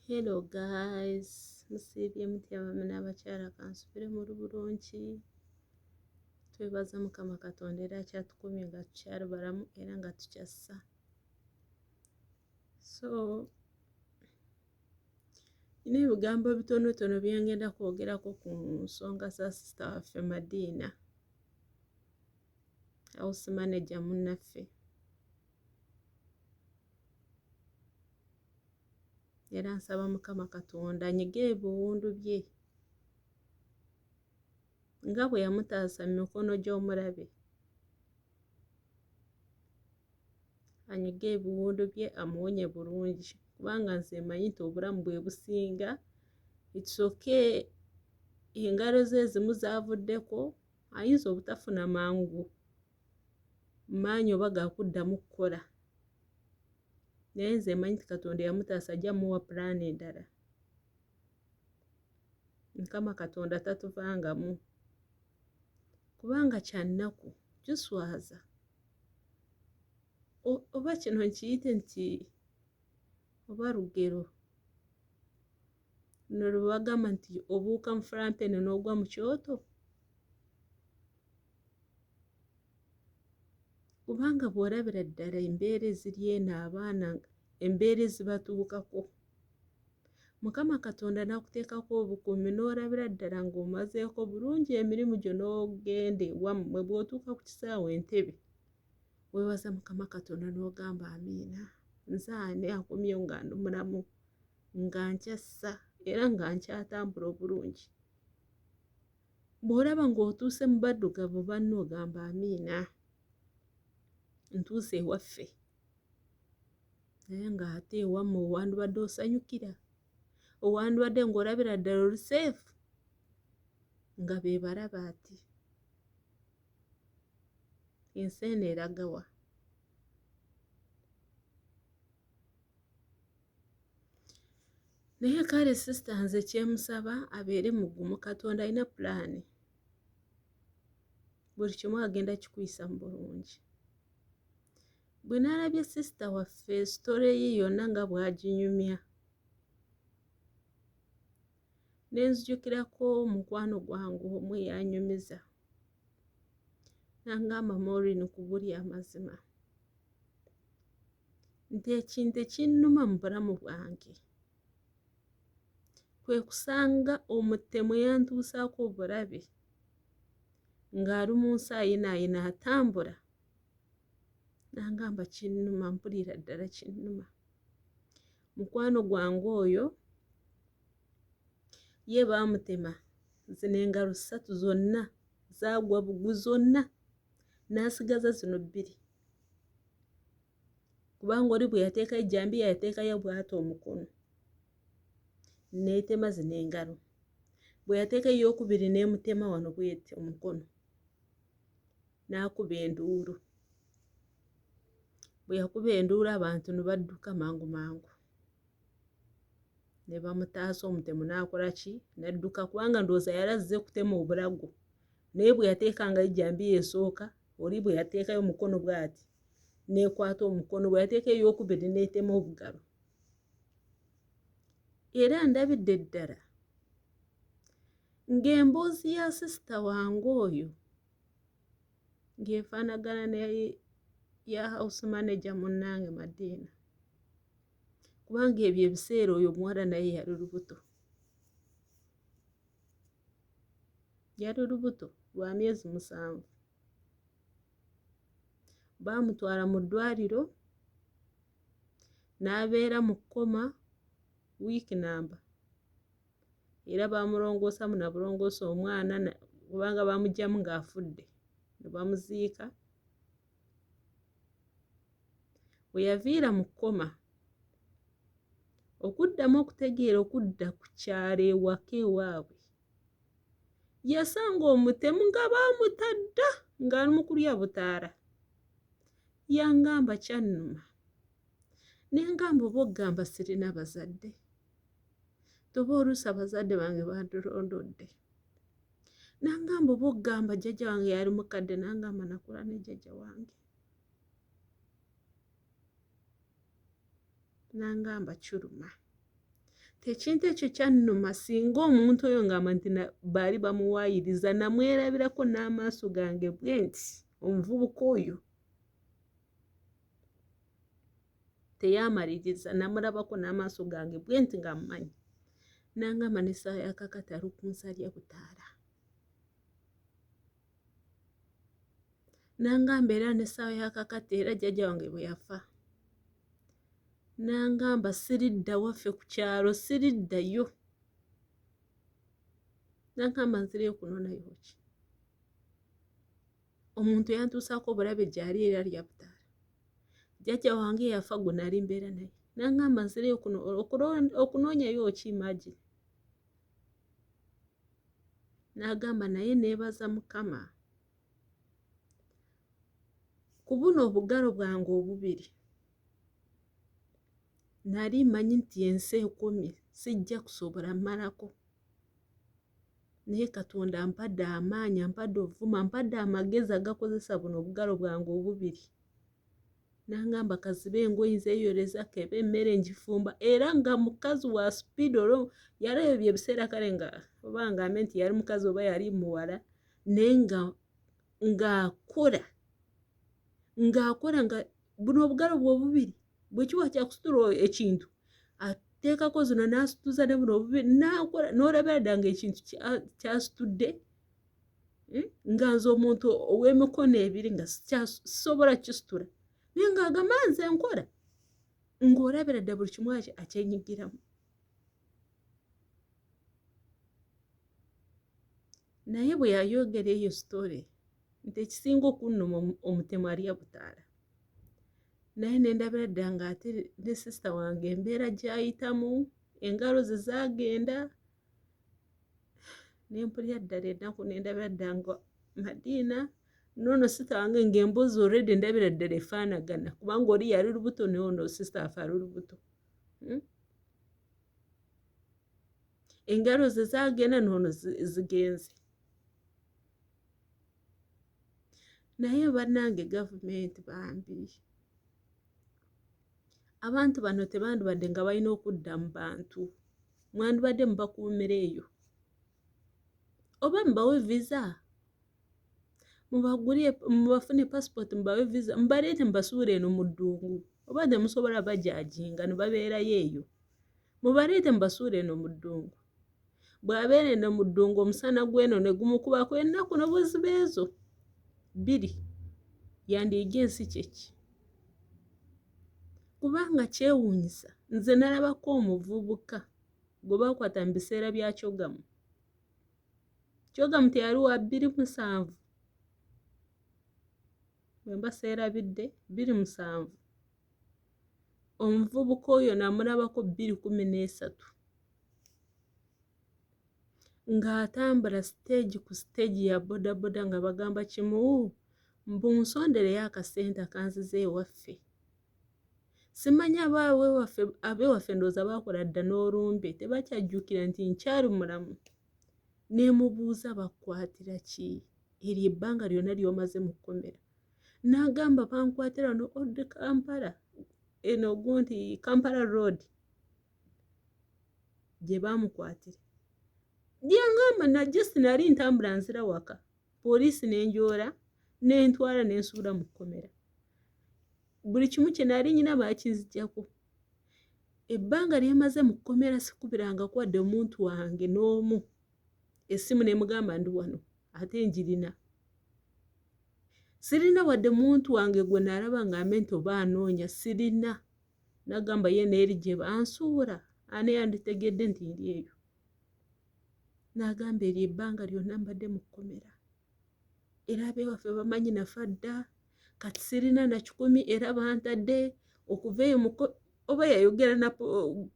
Hello guys, musiibye mutya abaami n'abakyala kansubire muli bulungi twebaza mukama katonda era akyatukumye nga tukyali balamu era nga tukyassa so nina ebigambo bitonotono byengenda kwogerako ku nsonga za sisita waffe madiina house manager munnaffe era nsaba mukama katonda anyige ebiwundu bye nga bwe yamutaasa mu mikono gy'omulabe anyige ebiwundu bye amuwonye bulungi kubanga nze manyi nti obulamu bwe businga itsoke engalo ze ezimu zavuddeko ayinza obutafuna mangu maanyi oba ga kuddamu kukola naye nze mmanyi nti katonda eyamutaasa ajja muwa pulaani endala mukama katonda tatuvangamu kubanga kyannaku kiswaza oba kino nkiyite nti oba lugero luno lwebagamba nti obuuka mufulampene n'ogwa mu kyoto kubanga bw'olabira ddala embeera eziri eno abaana embeera ezibatuukako mukama katonda n'akuteekako obukuumi n'olabira ddala ng'omazeeko bulungi emirimu gyo n'ogende wammwe bw'otuuka ku kisaawe entebe weewaza mukama katonda n'ogamba amiina nze ani akomyewo nga ndi mulamu nga nkyassa era nga nkyatambula obulungi bw'olaba ng'otuuse mu baddugavu banno ogamba amiina ntuuse ewaffe naye ng'ate ewammwe owandibadde osanyukira owandibadde ng'olabira ddala oli seefu nga be balaba ati ensi eno eragawa naye kale sisita nze kyemusaba abeere mugumu katonda alina pulaani buli kimu agenda kikuyisa mu bulungi bwe naalabye sisita waffe sitole ye yonna nga bwaginyumya nenzijukirako omukwano gwange omu eyanyumiza nangamba morin kubuli amazima nti ekintu ekinnuma mu bulamu bwange kwe kusanga omutemu yantuusaako obulabi ng'ali mu nsi ayinaayina atambula nangamba kinnuma mpulira ddala kinnuma mukwano gwange oyo ye baamutema zino engalo ssatu zonna zaagwa bugu zonna n'asigaza zino bbiri kubanga oli bwe yateeka ejjambiya yateekayo bw'ata omukono n'etema zino engalo bwe yateeka ey'okubiri n'emutema wano bw'eti omukono n'akuba enduulu bwe yakuba enduulu abantu ne badduka mangu mangu ne bamutaasa omutemu n'akola ki n'adduka kubanga ndowooza yali azze kutema obulago naye bwe yateekangayo ejjambiya esooka oli bwe yateekayo omukono bw'ati n'ekwata omukono bwe yateeka ey'okubiri n'etema obugalo era ndabidde ddala ng'emboozi ya sisita wange oyo ng'efaanagana ne ya house manager munnange madiina kubanga ebyo ebiseera oyo omuwala naye yali lubuto yali lubuto lwa myezi musanvu baamutwala mu ddwaliro n'abeera mu kkoma wiiki namba era baamulongoosamu nabulongoosa omwana kubanga bamugyamu ng'afudde ne bamuziika we yaviira mu kkoma okuddamu okutegeera okudda ku kyalo ewaka ewaabwe yasanga omutemu nga baamuta dda ng'ali mu kulya butaala yangamba kyannuma ne ngamba oba okugamba sirina bazadde toba oluusi abazadde bange bandulondodde nangamba oba okugamba jjajja wange yali mukadde nangamba nakula ne jjajja wange nangamba kiruma tekintu ekyo kyannuma singa omuntu oyo ngamba nti baali bamuwaayiriza namwerabirako n'amaaso gange bwenti omuvubuka oyo teyamaliriza namulabako n'amaaso gange bwe nti nga mmanyi nangamba n'essaawa ya kakati ali ku nsalya butaala nangamba era n'essaawa ya kakati era jjajja wange bwe yafa nangamba siridda waffe ku kyalo siriddayo nangamba nzireyo kunonayoki omuntu yantuusaako obulabe gyali era lyabutaala jjajja wange yafa gwe nali mbeera naye nangamba nzireyo kuno okunoonyayo ki imagine n'agamba naye neebaza mukama ku buno obugalo bwange obubiri nali manyi nti ensi ekumi sijja kusobola malako naye katonda ampadde amaanyi ampadde obuvuma ampadde amagezi agakozesa buno obugalo bwange obubiri nangamba kaziba engoyi nzeyoleza keba emmere ngifumba era nga mukazi wa speed olwo yali ebyo ebiseera kale nga oba ngambe nti yali mukazi oba yali muwala naye nga ng'akola ng'akola nga buno obugalo bwe obubiri bwe kiba kyakusitula ekintu ateekako zino n'asituza ne buno obubi nakola n'olabira dda ngaekintu kyasitudde hmm? nga nze omuntu ow'emikono ebiri nga sisobola kisitula naye ng'agamba nze nkola ng'olabira dda buli kimu akyenyigiramu naye bwe yayogera eyo sitore nti ekisinga okunnuma omutemu alya butaala naye nendabira dda nga ate ne sisita wange embeera gyayitamu engalo ze zagenda nempulira ddala ennaku nendabira dda nga madiina nono sisita wange ngaembuuzi oredi endabira ddala efaanagana kubanga oli yali lubuto noono sisita afe ali lubuto hmm? engalo ze zagenda noono zigenze naye bannange gavumenti bambi abantu bano tebandibadde nga balina okudda mu bantu mwandibadde mubakuumira eyo oba mubawe visa mubagulire mubafune pasipooti mubawe visa mubaleete mubasuula eno mu ddungu oba temusobola bajajinga ne babeerayo eyo mubaleete mubasuula eno mu ddungu bw'abeera eno mu ddungu omusana gw'eno ne gumukubako ennaku no buziba ezo bbiri yandiyiga ensi kyeki kubanga kyewuunyisa nze nalabako omuvubuka gwe bakwata mu biseera bya kyogamu kyogamu teyali wa bbiri musanvu bwe mbaseerabidde bbiri musanvu omuvubuka oyo namulabako bbiri kumi n'esatu ng'atambula siteegi ku siteegi ya bodaboda nga bagamba kimu mbu nsondereyo akasente akanziza ewaffe simanyi abewaffe ndowooza bakola dda n'olumbe tebakyajjukira nti nkyali mulamu nemubuuza bakwatira ki eryo ebbanga lyonna lyomaze mu kkomera n'agamba bankwatira no old kampala eno gu nti kampala road gye baamukwatira byangamba na just nali ntambula nzira waka poliisi nenjoora nentwala nensuula mu kkomera buli kimu kye nali nyina bakinzijako ebbanga lyemaze mu kkomera sikubiranga kwadde omuntu wange n'omu essimu nemugamba ndi wano ate njirina sirina wadde muntu wange gwe nalaba nga mente oba anoonya sirina nagamba ye neeri gye bansuula ani yanditegedde nti ndi eyo nagamba eryo ebbanga lyonna mbadde mu kkomera era abewaffe bamanyi nafa dda kati sirina na kikumi era bantadde okuva eyo oba yayogera na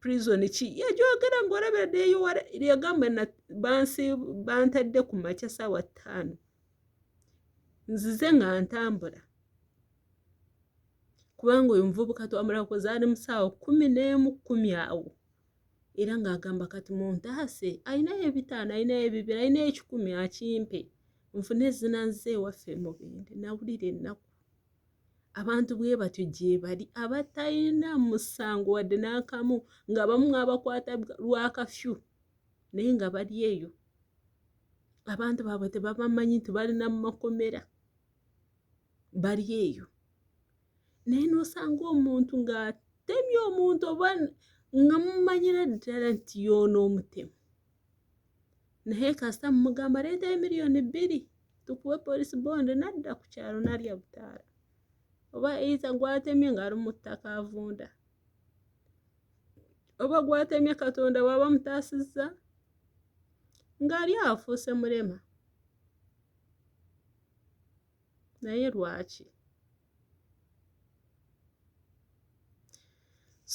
prison ki yagyogera ngaolabira deyowala yagamba bansi bantadde ku makya saawa ttaano nzize nga ntambula kubanga oyo muvubuka twamulakoze ali mu saawa kumi n'emu kumi awo era ng'agamba kati muntaase alinayo ebitaano alinayo ebibiri alinayo ekikumi akimpe nfune ezina nze ewaffe mubende nawulira ennaku abantu bwe batyo gyebali abatalina musango wadde n'akamu nga bamu mwabakwata lwakafyu naye nga bali eyo abantu baabwe tebabamanyi nti balina mu makomera bali eyo naye n'osanga omuntu ng'atemye omuntu oba nga mumanyira ddala nti yoona omutemu naye kasita mumugamba leeta emiliyoni bbiri tukuwe polisi bonde nadda ku kyalo nalya butaala oba eiza gwatemye ng'ali mu ttaka avunda oba gwatemye katonda waaba mutaasizza ng'ali afuuse mulema naye lwaki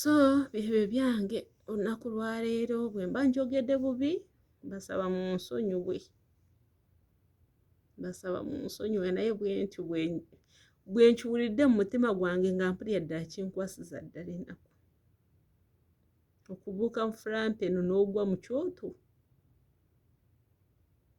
so byebyo byange olunaku lwaleero bwe mba njogedde bubi basaba mu nsonyiwe basaba mu nsonyiwe naye bwentyo bwenkiwulidde mu mutima gwange nga mpulira ddala kinkwasiza ddala enaku okubuuka mu fulampa eno n'ogwa mu kyoto